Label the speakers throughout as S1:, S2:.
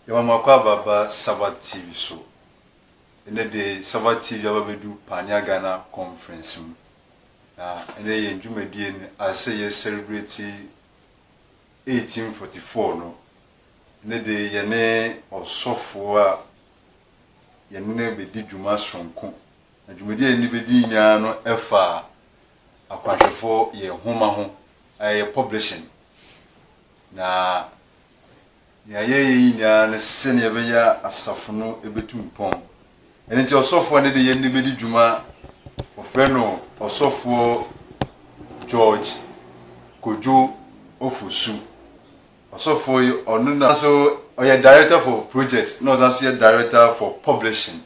S1: Yɛma mo akɔ aba aba Saba TV so. Ɛnɛ de Saba TV aba bɛdu Pania Ghana Conference mu. Na ɛnɛ yɛn dwumadie no asɛ yɛ celebrate 1844 no, ɛno de yɛne ɔsɔfoɔ a yɛne no bɛdi dwuma sononko, na dwumadie a yɛne no bɛdi nyinaa no fa Akwanhwɛfoɔ yɛn nwoma ho, a ɛyɛ publishing. Na deɛ yɛyɛ nyinaa ne sɛdeɛ ɛbɛyɛ a asafo no bɛtu mpɔn. Ɛno nti ɔsɔfoɔ no de yɛn de bɛdi dwuma. Wɔfrɛ no Ɔsɔfoɔ George Kojo Ofosu. Ɔsɔfoɔ yi, ɔno na so ɔyɛ Director for Projects na ɔsan so yɛ Director for Publishing.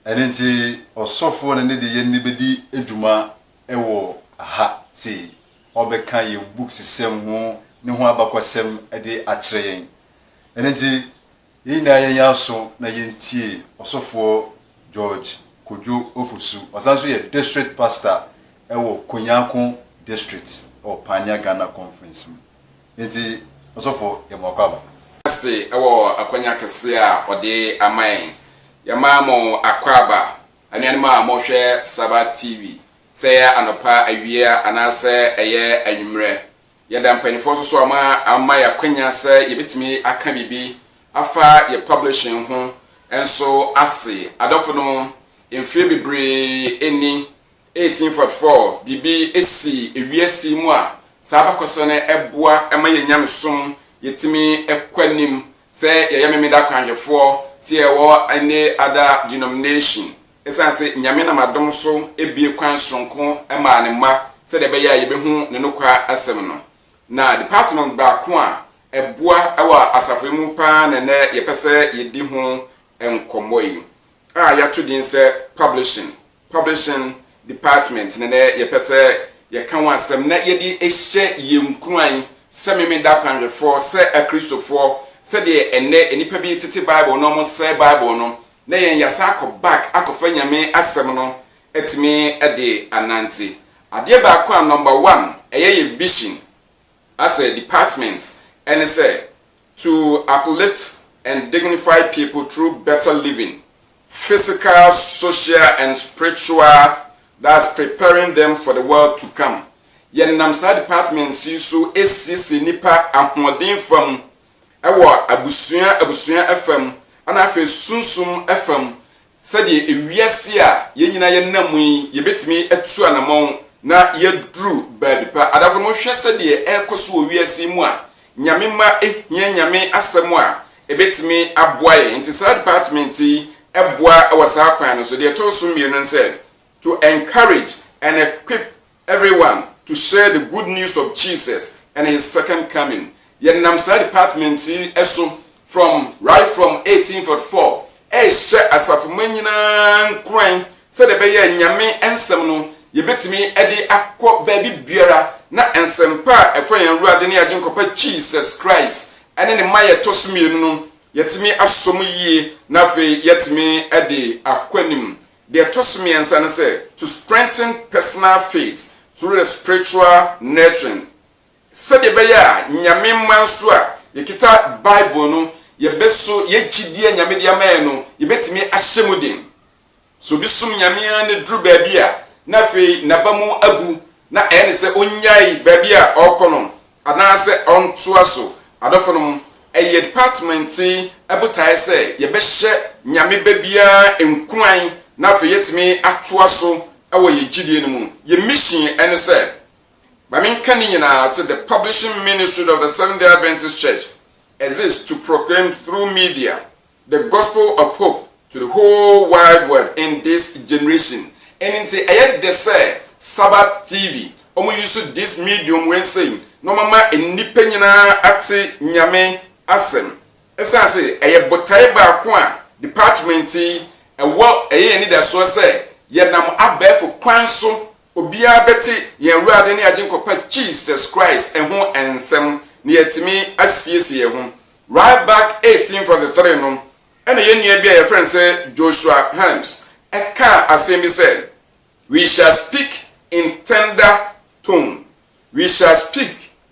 S1: Ɛno nti ɔsɔfoɔ no de yɛn de bɛdi dwuma wɔ ha sei. Ɔrebɛka yɛn books sɛm ho, ne ho abakɔsɛm de akyerɛ yɛn. Ɛno nti Yɛn nyinaa yɛn yɛn aso na yɛntie Ɔsɔfoɔ George Kojo Ofosu. Ɔsan nso yɛ District Pastor wɔ Konyako District wɔ Pioneer Ghana Conference mu. Enti Ɔsɔfoɔ yɛ mo akwaaba. ase wɔ
S2: akwanya kɛseɛ a ɔde ama yɛn. Yɛma mo akwaaba, anuanom a mohwɛ Saba TV, sɛ ɛyɛ anɔpa, awia, anaasɛ ɛyɛ anwummerɛ, Yɛda mpaninfoɔ nso so a wɔn ama yɛn akwanya sɛ yɛbɛtumi aka biribi afa yɛn publishing ho nso ase. Adɔfonom, mfeɛ bebree ni, 1844, biribi sii ewiase yi mu a saa abakɔsɛm no ɛboa ma yɛn nyamesom yɛtumi kɔ anim, sɛ yɛyɛ Memeda akwanhwɛfoɔ, sɛ yɛwɔ any other denomination, Esiane sɛ Nyame nam adom so abue kwan soronko maa Ne mma sɛdeɛ ɛbɛyɛ a yɛbɛhu Ne nokware asɛm no, na department baako a ɛboa wɔ asafo yi mu paa na ɛnnɛ yɛpɛ sɛ yɛdi ho nkɔmmɔ yi, a yɛato din sɛ Publishing, Publishing Department na ɛnnɛ yɛpɛ sɛ yɛka ho asɛm na yɛde hyɛ yɛn nkuran sɛ Memeneda akwanhwɛfoɔ, sɛ Akristofoɔ, sɛdeɛ ɛnnɛ nnipa bi tete Bible na wɔsɛe Bible no, na yɛn yɛasan akɔ back akɔfa Nyame asɛm no atumi de anante. Adeɛ baako a number one ɛyɛ yɛ vision as a department ɛne sɛ to uplift and dignify people through better living, physical, social and spiritual thus preparing them for the world to come. Yɛnam saa departments yi so asiesie nnipa ahoɔden fam wɔ abusua abusua fam, ɛnna afei sunsum fam, sɛdeɛ wiase a yɛn nyinaa yɛnam mu yi, yɛbɛtumi atu anamɔn na yɛaduru baabi pa. Adafo no, monhwɛ sɛdeɛ ɛrekɔ so wɔ wiase mu a Nyame mma hia Nyame asɛm a ɛbɛtumi aboa yɛn. Nti saa department yi boa wɔ saa kwan no so. Deɛ ɛtɔ so mmienu ne sɛ, to encourage and equip Everyone to share the good news of Jesus and his second coming. Yɛnam saa department yi so from right from 1844 rehyɛ asafo mma nyinaa nkuran sɛdeɛ ɛbɛyɛ a Nyame nsɛm no yɛbɛtumi de akɔ baabi biara na nsɛmpa a ɛfa yɛn Awurade ne Agyenkɔpa Jesus Christ ne ne mmaeɛ a ɛtɔ so mmienu no yɛatumi asɔ mu yie na afei yɛatumi de akɔ anim. Deɛ ɛtɔ so mmiɛnsa ne sɛ, to strengthen personal faith through the spiritual nurturing, sɛdeɛ ɛbɛyɛ a Nyame mma nso a yɛkita Bible no, yɛbɛso yɛn gyidie a Nyame de ama yɛn no, yɛbɛtumi ahyɛ mu den. Sɛ obi som Nyame ara na ɛduru baabi a na afei n'aba mu abu na ɛyɛ no sɛ onnyae baabi a ɔrekɔ no anaasɛ ɔntoa so. Adɔfonom, ɛyɛ department yi botae sɛ yɛbɛhyɛ Nyame ba biara nkuran na afei yɛatumi atoa so wɔ yɛn gyidie no mu. Yɛn mission ne sɛ, ma menka ne nyinaa ase, The publishing ministry of the Seventh-day Adventist Church exists to proclaim through media The Gospel of Hope to the Whole Wide World in This Generation, ɛno nti ɛyɛ dɛ sɛ Sabbath TV, wɔn use this medium wei sei na wɔn ama nnipa nyinaa ate Nyame asɛm. Ɛsiane sɛ ɛyɛ botaeɛ baako a department yi ɛwɔ, ɛyɛ yɛn anidasoɔ sɛ yɛnam abɛɛfo kwan so Obiara bɛte yɛn Awurade ne Agyenkɔpa Jesus Christ ho nsɛm na yɛatumi asiesie yɛn ho. Right back 1843 no, ɛna yɛn nua bi a yɛfrɛ no sɛ Joshua Harms kaa asɛm bi sɛ, We shall speak in tender tone. We shall speak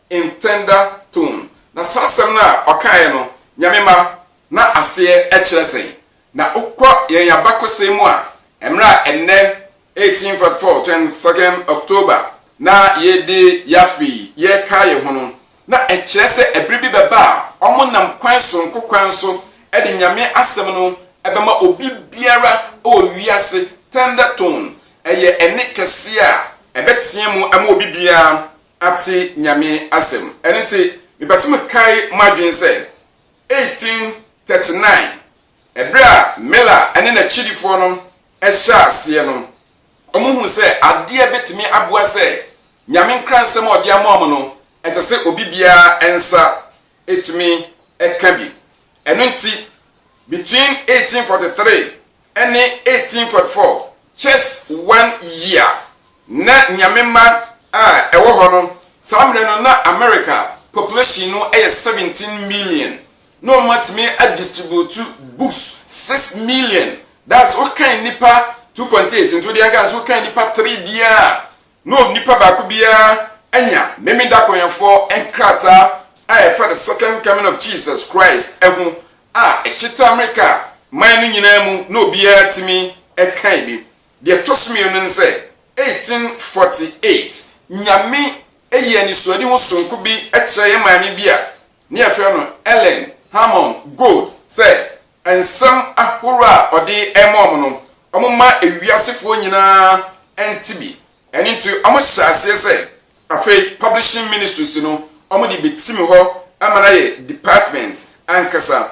S2: in tender tone. Na saa asɛm no a ɔkaeɛ no, Nyame mma, na aseɛ kyerɛ sɛn? Na wokɔ yɛn abakɔsɛm mu a, mmerɛ a ɛnnɛ 1844 22 second October na yɛredi Yaffe yi, yɛrekae yɛn ho no, na ɛkyerɛ sɛ ɛberɛ bi bɛba a wɔn nam kwan sononko kwan so de Nyame asɛm no bɛma obi biara wɔ wiase, thunder tone, ɛyɛ ɛnne kɛseɛ a ɛbɛtea mu ama obi biara ate Nyame asɛm. Ɛno nti, mepɛ sɛ mekae mo adwene sɛ, 1839, bere a Miller ne n'akyidifoɔ no hyɛɛ aseɛ no, wɔhuu sɛ adeɛ bɛtumi aboa sɛ Nyame nkransɛm a ɔde ama wɔn no, ɛsɛ sɛ obi biara nsa tumi ka bi. Ɛno nti, between 1843 ne 1844 kyɛs one year. Na Nyame mma a ɛwɔ hɔ no, saa mmerɛ no na America population no yɛ 17 million, na wɔn atumi a distribute books 6 million, that's wokan nnipa 2.8 nti wodeɛ nka sɛ wokan nnipa 3 biara a na onipa baako biara anya Memeneda Kɔwɛnfoɔ nkrataa a ɛfa The Second Coming of Jesus Christ ho a ɛhyeta Amerika man no nyinaa mu na obiara tumi kan bi. Deɛ ɛtɔ so mmienu ne sɛ, 1848, Nyame yii anisoadehu sononko bi kyerɛɛ yɛn maame bi a na yɛfrɛ no Ellen Hammond Gold sɛ Nsɛm ahorow a ɔde rema wɔn no, wɔma wiasefoɔ nyinaa te bi. Ɛno nti, wɔhyɛɛ aseɛ sɛ afei Publishing Ministries no, wɔde bɛtim hɔ ama no ayɛ department ankasa.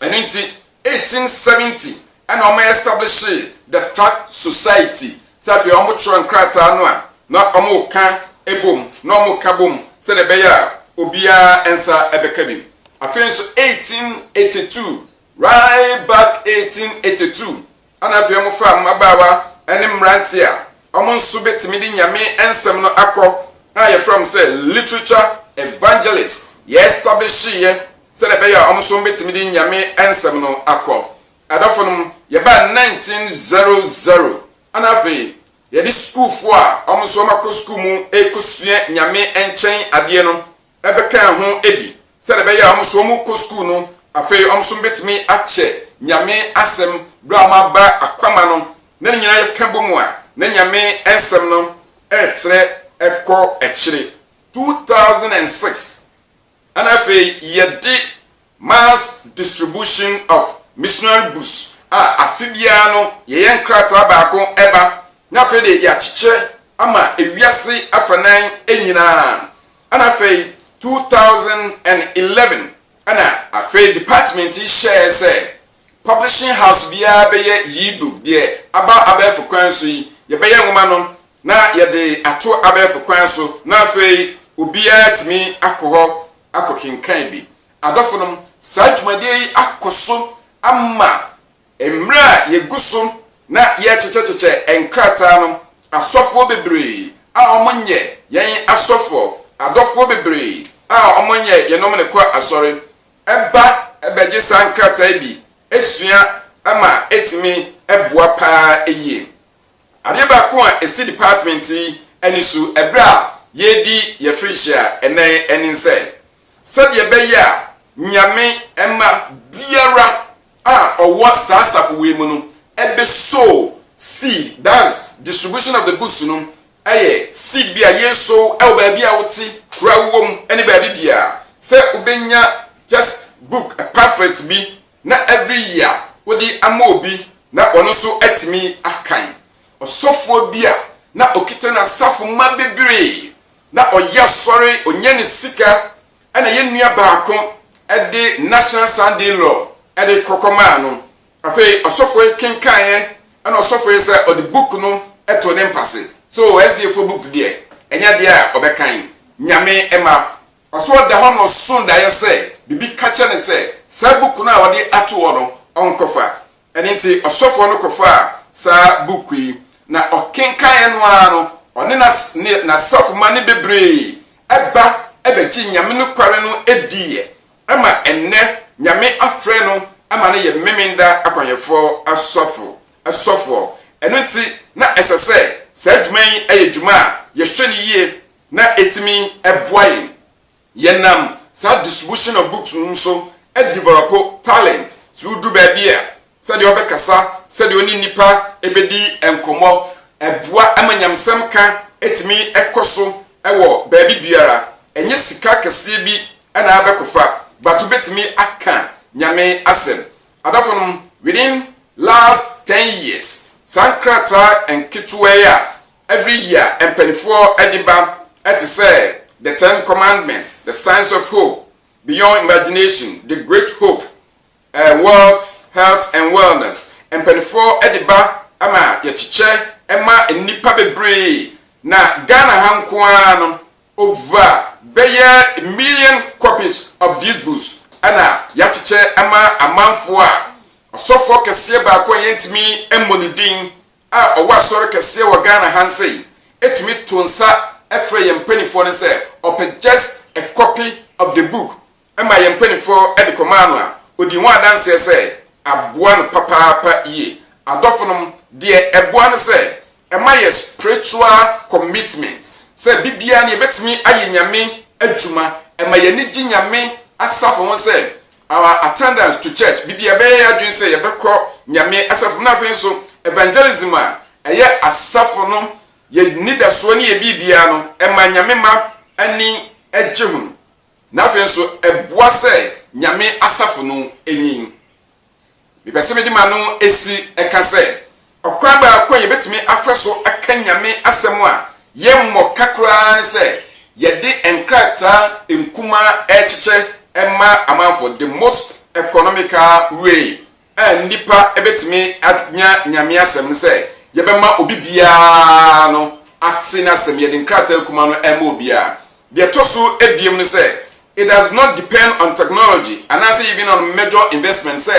S2: Ɛno nti, 1870 na wɔestablishe the Tract Society, sɛ afei wɔtwerɛ nkrataa no a na wɔka bom, na wɔka bom sɛdeɛ ɛbɛyɛ a obiara nsa bɛka bi. Afei nso 1882, right back 1882, ɛna afei wɔfaa mmabaawa ne mmeranteɛ a wɔn nso bɛtumi de Nyame nsɛm no akɔ a yɛfrɛ wɔn sɛ literature evangelists, yɛɛstabehyeeɛ sɛdeɛ ɛbɛyɛ a wɔn nso wɔbɛtumi de Nyame nsɛm no akɔ. Adɔfonom, yɛbaa 1900, ɛna afei Yɛde sukuufo a wɔn nso wɔakɔ sukuu mu rekosua Nyame nkyɛn adeɛ no bɛkaa ho bi sɛdeɛ ɛbɛyɛ a wɔn nso wɔkɔ sukuu no, afei wɔn nso wɔbɛtumi akyɛ Nyame asɛm berɛ a wɔaba akwama no, na ne nyinaa yɛka bom a, na Nyame nsɛm no retrɛ kɔ akyire. Two thousand and six. Ɛna afei yɛde Mass Distribution of Missionary Books a afe biara no yɛyɛ nkrataa baako ba, na afei deɛ yɛakyekyɛ ama ewiase afanan nyinaa. Ɛna afei 2011 ɛna afei department yi hyɛɛ sɛ publishing house biara bɛyɛ yi book, deɛ aba abɛɛfo kwan so yi, yɛbɛyɛ nwoma no na yɛde ato abɛɛfo kwan so na afei obiara atumi akɔ hɔ akɔkenkan bi. Adɔfonom, saa dwumadie yi akɔ so ama mmerɛ a yɛgu so na yɛrekyekyɛkyekyɛ nkrataa no, asɔfoɔ bebree a wɔnyɛ yɛn asɔfoɔ, adɔfoɔ bebree a wɔnyɛ yɛnom ne kɔ asɔre ba bɛgye saa nkrataa yi bi sua ma ɛtumi boa pa ara yie. Adeɛ baako a ɛsi department yi ani so ɛberɛ a yɛredi yɛn firihyia a ɛnnɛ ɛne sɛ, sɛdeɛ ɛbɛyɛ a Nyame mma biara a ɔwɔ saa asafo wei mu no ɛbɛ sow seed, that is, distribution of the books no ɛyɛ seed bi a yɛresow ɛwɔ baabi a wote, kuro a wowɔ mu ɛne baabi biara sɛ wobɛnya just book, a pamphlet bi na every year wode ama obi na ɔno nso atumi akan. Ɔsɔfoɔ bi a na ɔkita n'asafo mma bebree na ɔyɛ asɔre, ɔnya ne sika ɛna yɛn nua baako de National Sunday Law de kɔ kɔmaa no. Afei ɔsɔfoɔ yi kenkaeɛ ɛna ɔsɔfoɔ yi sɛ ɔde book no too ne mpase. So SDAfoɔ book deɛ ɛnyɛ adeɛ a ɔbɛkan. Nyame mma. Ɔso ɔda hɔ na ɔso daeɛ sɛ biribi ka kyerɛ no sɛ saa buku no a wɔde ato hɔ no ɔnkɔfa. Ɛno nti ɔsɔfoɔ no kɔfaa saa buku yi, na ɔkenkaneɛ no ara no ɔne n'asafomma no bebree ba bɛgye Nyame nokware no diiɛ ma ɛnnɛ Nyame afrɛ no ma no yɛ Memenda akwanhwɛfoɔ sɔfoɔ. Ɛno nti na ɛsɛ sɛ saa dwuma yi yɛ dwuma a yɛhwɛ no yie na ɛtumi boa yɛn. Yɛnam saa distribution of books no mu nso developo talent sɛ wodu baabi a, sɛdeɛ ɔbɛkasa, sɛdeɛ ɔne nnipa bɛdi nkɔmmɔ, ɛboa ma nyamesɛm ka tumi kɔ so wɔ baabi biara. Ɛnyɛ sika kɛseɛ bi na abɛkɔfa but wobɛtumi aka Nyame asɛm. Adafo nom, within last ten years, saa nkrataa nketewa yi a Every year mpaninfoɔ de ba te sɛ The Ten Commandments, The Signs of Hope, Beyond Imagination, The Great Hope, eh, Wealth, Health and Wellness, mpaninfoɔ de ba ma yɛkyekyɛ ma nnipa bebree na Ghana ha nko ara no over bɛyɛ million copies of these books na yɛakyekyɛ ma amanfoɔ a ɔsɔfoɔ kɛseɛ baako a yɛntumi mmɔ ne din a ɔwɔ Asɔre kɛseɛ wɔ Ghana ha nsɛ yi tumi too nsa frɛɛ yɛn mpaninfoɔ no sɛ ɔpɛ just a copy of the book maa yɛn mpaninfoɔ de kɔmaa no a, ɔdii ho adanseɛ sɛ aboa no papaapa yie. Adɔfonom, deɛ ɛboa ne sɛ ɛma yɛ spiritual commitment sɛ da biara no yɛbɛtumi ayɛ Nyame adwuma. Ɛma yɛn ani gye Nyame asafo ho sɛ Our attendance to church, biribi a yɛbɛyɛ yɛn adwene sɛ yɛbɛkɔ Nyame asafo mu, na afei nso evangelism a ɛyɛ asafo no yɛ nidasoɔ ne yɛ biribiara no, ɛma Nyame mma ani gye ho, na afei nso ɛboa sɛ Nyame asafo no nyin. Mepɛ sɛ mede m'ano si ka sɛ, ɔkwan baako a yebetumi afa so aka Nyame asɛm a yɛmmɔ ka koraa ne sɛ yɛde nkrataa nkumaa rekyekyɛ ma amanfo, the most economical way a nnipa betumi anya Nyame asɛm ne sɛ yɛbɛma obi biara no ate n'asɛm, yɛde nkrataa nkumaa no rema obiara. Deɛ ɛtɔ so abiem ne sɛ, it does not depend on technology anaasɛ even on major investment sɛ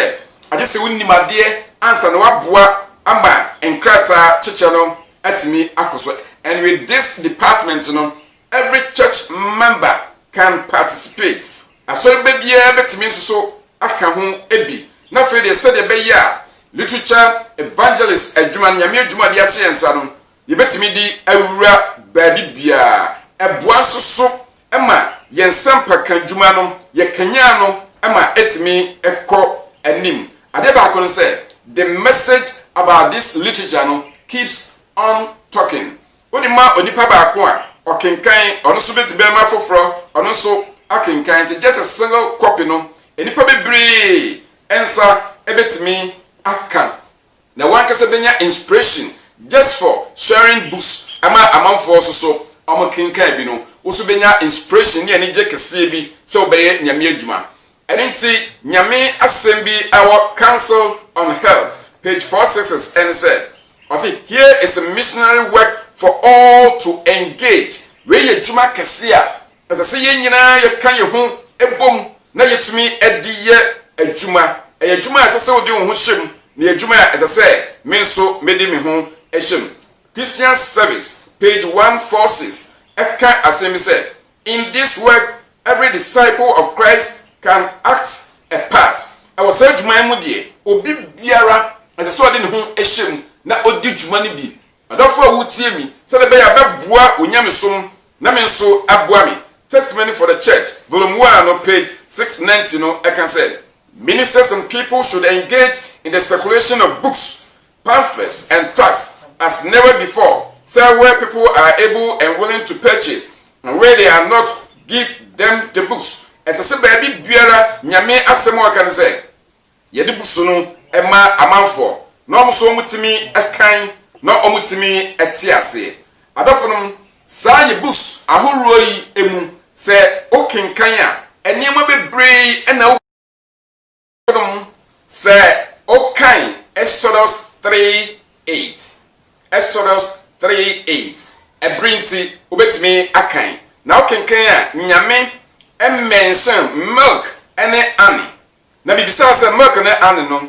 S2: agye sɛ wonim adeɛ ansa na woaboa ama nkrataa kyekyɛ no atumi akɔ so. And with this department no, every church member can participate. Asɔreba biara bɛtumi nso so aka ho bi. Na afei deɛ sɛdeɛ ɛbɛyɛ a literature evangelist adwuma no, Nyame adwuma a wɔde ahyɛ yɛn nsa no, yɛbɛtumi de awura baabi biara. Ɛboa nso so ma yɛn nsɛmpaka dwuma no, yɛkanyan no ma ɛtumi kɔ anim. Adeɛ baako ne sɛ, the message about this literature no keeps on talking. Wode ma onipa baako a, ɔkenkan, ɔno nso bɛtumi bɛma afoforɔ, ɔno nso akenkan. Nti just a single copy no, nnipa bebree nsa bɛtumi aka na wankasa bɛnya inspiration just for sharing books ma amanfoɔ nso so wɔn kenkan bi no wo nso bɛnya inspiration ne anigyeɛ kɛseɛ bi sɛ wo bɛyɛ Nyame adwuma ɛno nti Nyame asɛm bi ɛwɔ council on health page 466 ɛne sɛ ɔse here is a missionary work for all to engage wei yɛ adwuma kɛseɛ a Ɛsɛ sɛ yɛn nyinaa yɛka yɛn ho bom na yɛtumi de yɛ adwuma. Ɛyɛ adwuma a ɛsɛ sɛ wode wo ho hyɛ mu, na ɛyɛ adwuma a ɛsɛ sɛ me nso mede me ho hyɛ mu. Christian Service, page one four six, ka asɛm bi sɛ, In this work, every disciple of Christ can act a part. Wɔ saa adwuma yi mu deɛ, obi biara, ɛsɛ sɛ ɔde ne ho hyɛ mu na ɔdi dwuma no bi. Adɔfo a wotie me sɛnea ɛbɛyɛ a bɛboa wo nyamesom na me nso aboa me Testimony for the Church, Vol. I no, page 690 no ka sɛ, Ministers and people should engage in the circulation of books, pamphlets and tracts as never before sɛ where people are able and willing to purchase and where they are not give them the books Ɛsɛ sɛ baabi biara Nyame asɛm a wɔka ne sɛ, Yɛde bu so no ma amanfoɔ na wɔn nso wɔtumi kan na wɔtumi te ase. Adɔfonom, saa yɛ books ahoroɔ yi mu, sɛ wokenkan a, nneɛma bebree na wo nom sɛ wokan Exodus 3, 8. Exodus 3, 8. Ɛbere nti, wobɛtumi akan. Na wokenkan a, Nyame mention milk ne honey. na mibisaa sɛ, Mark ne Anne no,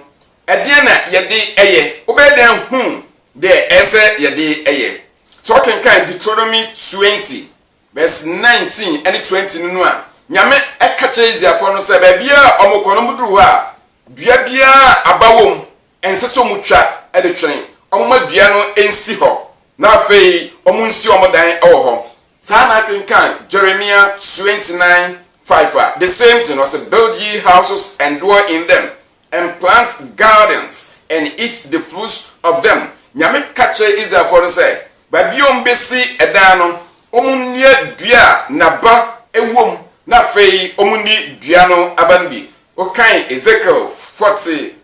S2: ɛdeɛn na yɛde yɛ? Wobɛyɛ dɛn ahu deɛ ɛyɛ sɛ yɛde yɛ? Sɛ wokenkan Deuteronomy twenty, verse nineteen ne twenty no no a, Nyame ka kyerɛ Israelfoɔ no sɛ baabiara a wɔkɔ no, wɔduru hɔ a, dua biara a aba wɔ mu, Ɛnsɛ sɛ wɔtwa de twɛn. Wɔmma dua no nsi hɔ, na afei wɔnsi wɔn dan wɔ hɔ. Saa ara na akenkan Jeremia twenty nine five a, the same thing, ɔse, Build ye houses and dwell in them, and plant gardens and eat the fruits of them. Nyame ka kyerɛɛ Israelfoɔ no sɛ, baabi a wɔbɛsi dan no, wɔnnua dua a n'aba wɔ mu, na afei wɔnni dua no aba no bi. Wokan Ezekiel forty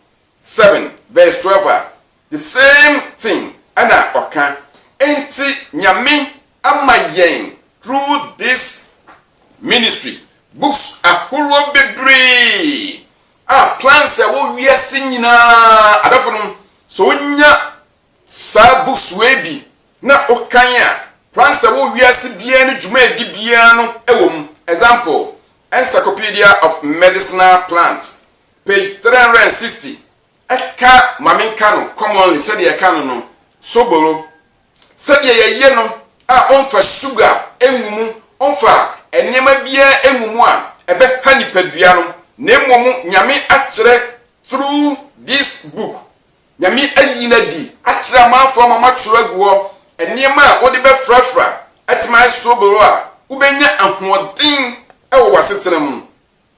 S2: seven verse twelve a, the same thing na ɔka. Enti Nyame ama yɛn through this ministry books ahoroɔ bebree a plans a ɛwɔ wiase nyinaa adɔfo nom sɛ wonya saa books wei bi na wokan a plans a ɛwɔ wiase biara ne dwumaadi biara no ɛwɔ mu. Example, Encyclopedia of Medicinal Plants Page three hundred and sixty, Ɛka ma menka no commonly sɛdeɛ yɛka no no, sobolo, sɛdeɛ yɛyɛ no a ɔmfa suga ngu mu, ɔmfa nneɛma biara ngu mu a ɛbɛha nipadua no, na mmom Nyame akyerɛ through this book, Nyame ayi no adi akyerɛ amanfoɔ ama wɔatwerɛ agu hɔ, nneɛma a wode bɛfrafra atumi ayɛ sobolo a wobɛnya ahoɔden wɔ w'asetena mu.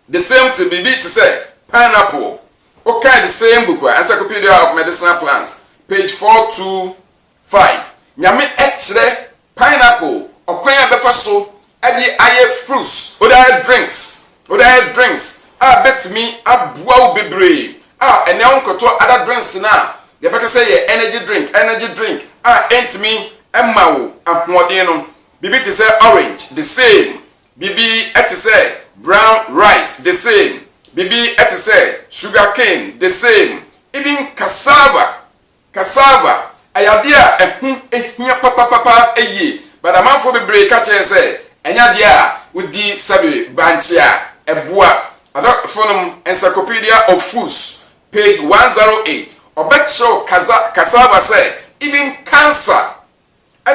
S2: The same thing, biribi te sɛ pineapple. Wokan the same book a, Encyclopedia of Medicinal Plants, page four two five, Nyame kyerɛ pineapple ɔkwan a ɛbɛfa so de ayɛ fruits, wode ayɛ drinks, wode ayɛ drinks a ɛbɛtumi aboa wo bebree a ɛnɛ wonkɔtɔ other drinks no a yɛbɛka sɛ yɛ energy drink, energy drink a ɛntumi mma wo ahoɔden no. Biribi te sɛ orange, the same, Biribi te sɛ brown rice the same, biribi te sɛ sugar cane the same, even cassava, cassava, ɛyɛ adeɛ a ɛho hia papapapa yie but amanfoɔ bebree ka kyerɛ yɛn sɛ ɛnyɛ adeɛ a wodi sɛbe bankye a ɛboa. Adɔfoɔ nom Encyclopedia of Foods page 108 ɔbɛkyerɛ wo cassava sɛ even cancer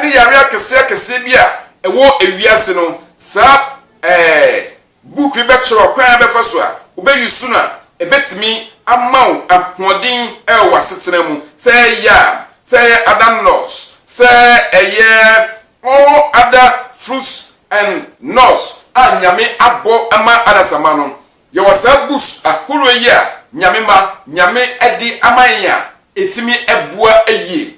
S2: ne yare akɛseakɛseɛ bi a ɛwɔ wiase no, saa ɛɛ book yi bɛkyerɛ wo kwan a bɛfa so a wobɛ use no a ɛbɛtumi ama wo ahoɔden wɔ w'asetena mu. Sɛ ɛyɛ yam, sɛ ɛyɛ other nuts, sɛ ɛyɛ all other fruits and nuts a Nyame abɔ ama adasamma no, yɛwɔ saa books ahoroɔ yi a Nyame ma, Nyame de ama yɛn a ɛtumi boa yie.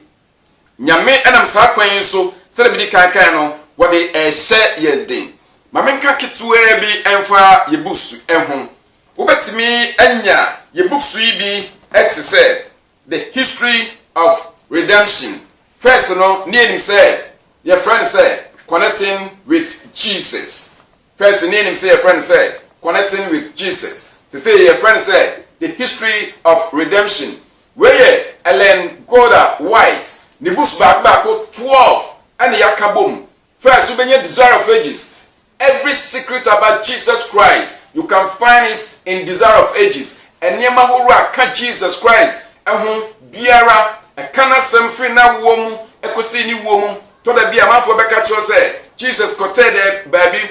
S2: Nyame nam saa kwan yi so, sɛdeɛ medi kan kae no, wɔde rehyɛ yɛn den. Ma menka ketewaa bi mfa yɛn books yi ho. Wobɛtumi anya yɛn books yi bi te sɛ The History of Redemption. First no, ne yɛnim sɛ yɛfrɛ no sɛ Connecting with Jesus. First no yɛnim sɛ yɛfrɛ no sɛ Connecting with Jesus, sesei yɛfrɛ no sɛ The History of Redemption. Wei yɛ Ellen Goda White ne books baako baako 12 na yɛaka bom. First wobɛnya Desire of Ages, Every Secret About Jesus Christ, you can find it in Desire of Ages, Nneɛma horow a ka Jesus Christ ho biara, ɛka n'asɛm firi n'awoɔ mu kɔsi ne wuo mu, Tɔ da bi amanfoɔ bɛka kyerɛ wo sɛ Jesus kɔtɛɛ dɛ baabi,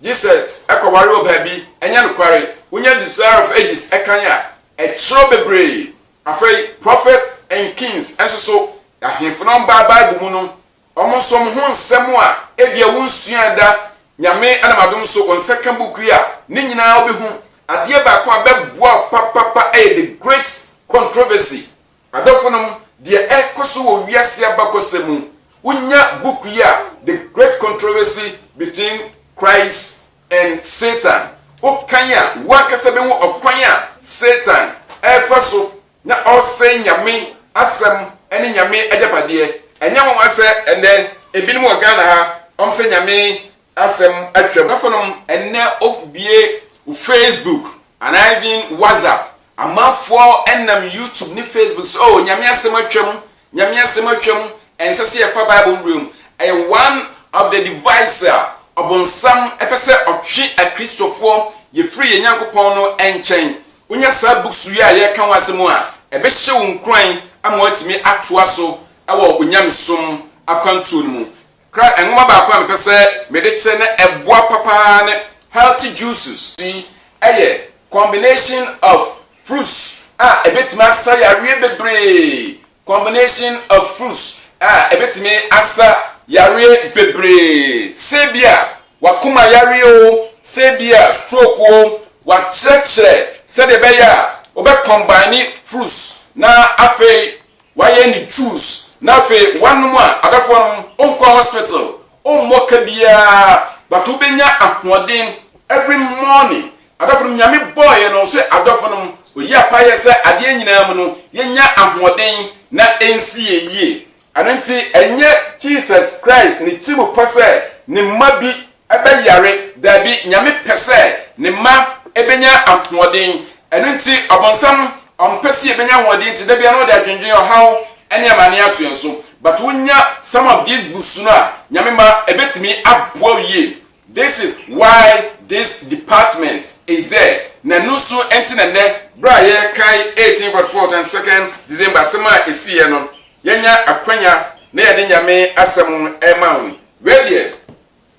S2: Jesus kɔware wɔ baabi. Ɛnyɛ nokware. Wonya Desire of Ages kan a, ɛkyerɛw bebree. Afei Prophet and Kings nso so, ahemfo no baa Bible mu no, wɔn nso wɔn ho nsɛm a ebia wonsuaa da, Nyame nam adom so wɔn nsa ka book yi a, ne nyinaa wobɛhu. Adeɛ baako a ɛbɛboa wo papapa yɛ The Great Controversy. Adɔfonom, deɛ ɛrekɔ so wɔ wiase abakɔsɛm mu, wonya book yi a, The Great Controversy Between Christ and Satan, wokan a, wo ankasa bɛhu ɔkwan a Satan refa so na ɔresɛe Nyame asɛm ne Nyame agyapadeɛ. Ɛnyɛ nwanwa sɛ ɛnnɛ, ebinom wɔ Ghana ha, wɔn sɛ Nyame Asɛm atwam. Afonom, Ɛnnɛ wobue wo Facebook anaa even WhatsApp, amanfoɔ nam YouTube ne Facebook so, oh, Nyame asɛm atwam, Nyame asɛm atwam, ɛnsɛ sɛ yɛfa Bible no berɛ mu. Ɛyɛ one of the device a ɔbonsam pɛ sɛ ɔtwe akristofoɔ yɛ firi yɛn Nyankopɔn no nkyɛn. Wonya saa books wei a yɛreka ho asɛm a, ɛbɛhyɛ wo nkuran ama woatumi atoa so wɔ onyamesom akwantuo no mu. Kra nwoma baako a mepɛ sɛ mede kyerɛ na ɛboa pa paa ne Healthy Juices. Yi yɛ combination of fruits a ɛbɛtumi asa yareɛ bebree. Combination of fruits a ɛbɛtumi asa yareɛ bebree. Sɛ bi a w'akoma yareɛ o, sɛ bi a stroke o, wɔakyerɛkyerɛ sɛdeɛ ɛbɛyɛ a wobɛ combine fruits na afei Wayɛ ne tools na afei wanom a adafoa nom, onkɔ hospital, ommɔ ka biaa but wobɛnya ahoɔden every morning. Adɔfo nom, Nyame bɔɔyɛ no sɛ adɔfo nom, ɔyi apa yɛ sɛ adeɛ nyinaa mu no yɛnya ahoɔden na ɛnsi yɛn yie. Ɛno nti ɛnyɛ Jesus Christ ne tirim pɛ sɛ ne mma bi bɛ yare. Daabi, Nyame pɛ sɛ Ne mma bɛnya ahoɔden. Ɛno nti, ɔbonsam, ɔmpɛ sɛ yɛbɛnya ahoɔden nti, da biara na ɔde adwendwen, ɔhaw, ne amaneɛ ato yɛn so. But wo nya some of these books no a, Nyame mma, ɛbɛtumi aboa wo yie. This is why this department is there. Na ɛno nso nti na nnɛ, berɛ a yɛrekae 1844 and 2nd December asɛm a ɛsiiɛ no, yɛanya akwanya na yɛde Nyame asɛm rema wo. Wei deɛ,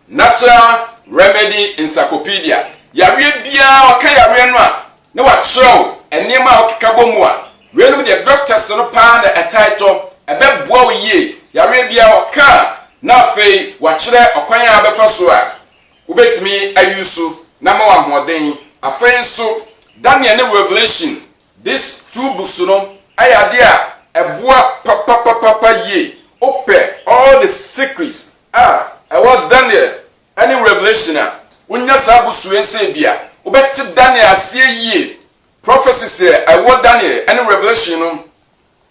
S2: Natural Remedy Encyclopedia, Yareɛ biara wɔka yareɛ no a na wɔakyerɛw nneɛma a wɔkeka bɔ mu a weinom deɛ doctors no paa na ɛtaa tɔ, ɛbɛboa wo yie yareɛ biara wɔka a na afei wɔakyerɛ ɔkwan a wobɛfa so a wobɛtumi ayi so na ama wo ahoɔden. Afei nso Daniel ne Revelation these two books no yɛ adeɛ a ɛboa papapapapa yie. wopɛ all the secrets a ɛwɔ Daniel ne Revelation a, wonya saa bosuo yi nsa ebia wobɛte Daniel aseɛ yie. Prophecies a ɛwɔ Daniel ne Revelation no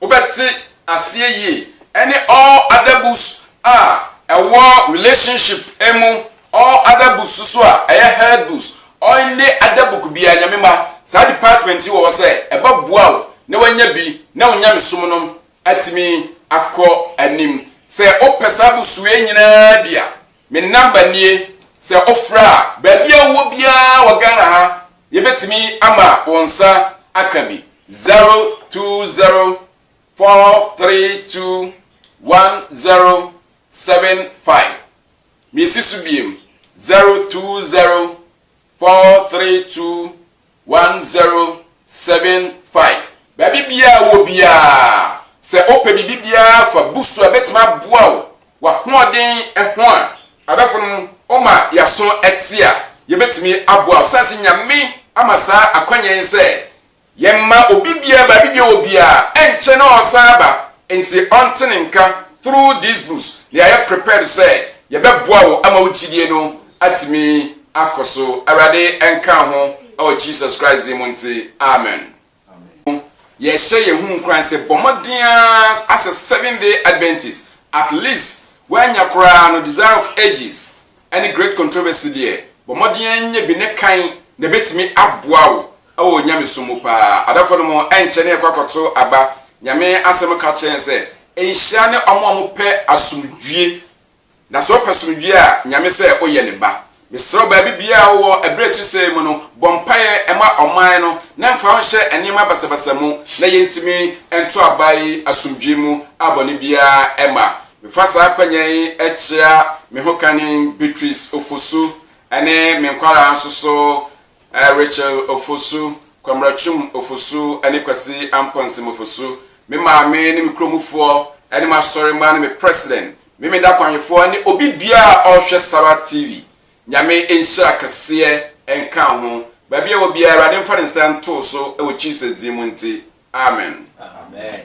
S2: wobɛte aseɛ yie ɛne all other books a ɛwɔ relationship mu, all other books nso a ɛyɛ health books, any other book biara Nyame ma saa department yi wɔ hɔ sɛ ɛbɛboa wo na wanya bi na wo nyamesom no atumi akɔ anim. Sɛ wopɛ saa abusua yi nyinaa bi a, me number nie, sɛ wofrɛ a, baabi a wowɔ biara wɔ Ghana ha, yɛbɛtumi ama wo nsa aka bi, 020 432 1075. Mesi so biom, 020 432 1075. Baabi biara a wowɔ biara, sɛ wopɛ biribi biara fa bu so a ɛbɛtumi aboa wo w'ahoɔden ho a, adɔfo no, woma yɛaso te a, yɛbɛtumi aboa wo. Sane sɛ Nyame ama saa akwanya yi sɛ yɛmma obi biara baabi biara wɔ biara, ɛnkyɛ na ɔresan aba, nti ɔnte ne nka, through these books, na yɛayɛ prepared sɛ yɛbɛboa wo ama wo gyidie no atumi akɔso awurade nka ho ɛwɔ jesus christ din mu nti amen yɛhyɛ yɛn ho nkuran sɛ bɔ mmɔden asɛ seven day adventist at least woanya koraa no desire of ages ɛne great controversy deɛ bɔ mmɔden nyɛ bi ne kan na ɛbɛtumi aboa wo ɛwɔ onyame so mu paa adafo no mu ɛnkyɛ ne ɛkɔ akɔto aba nyame asɛm ka kyerɛ sɛ nhyira ne ɔmo a ɔmo pɛ asomdwie Na sɛ ɔpɛ somdwie a, Nyame sɛ woyɛ ne ba. Mesrɛ wo baabi biaa a wowɔ ɛberɛ a ɛtosɛɛ yi mu no, bɔ mpaeɛ ma ɔman no na mfa wo nhyɛ nneɛma basabasa mu na yɛntumi nto aba yi asomdwie mu a bɔne biaa ɛmma. Mefa saa akwanya yi kyea me ho kane Beatrice Ofosu ne me nkwadaa nso so, Rachel Ofosu, Kwamratwum Ofosu ne Kwasi Amponsem Ofosu, me maame ne me kuromufoɔ ne m'asɔremma ne me President Memeda Kwanyefoɔ ne obi biara a ɔrehwɛ Sara TV. Nyame nhyira kɛseɛ nka ho. Baabi a ɛwɔ biara, Awurade mfa ne nsa ntoo so wɔ Jesus din mu nti. Amen. Amen.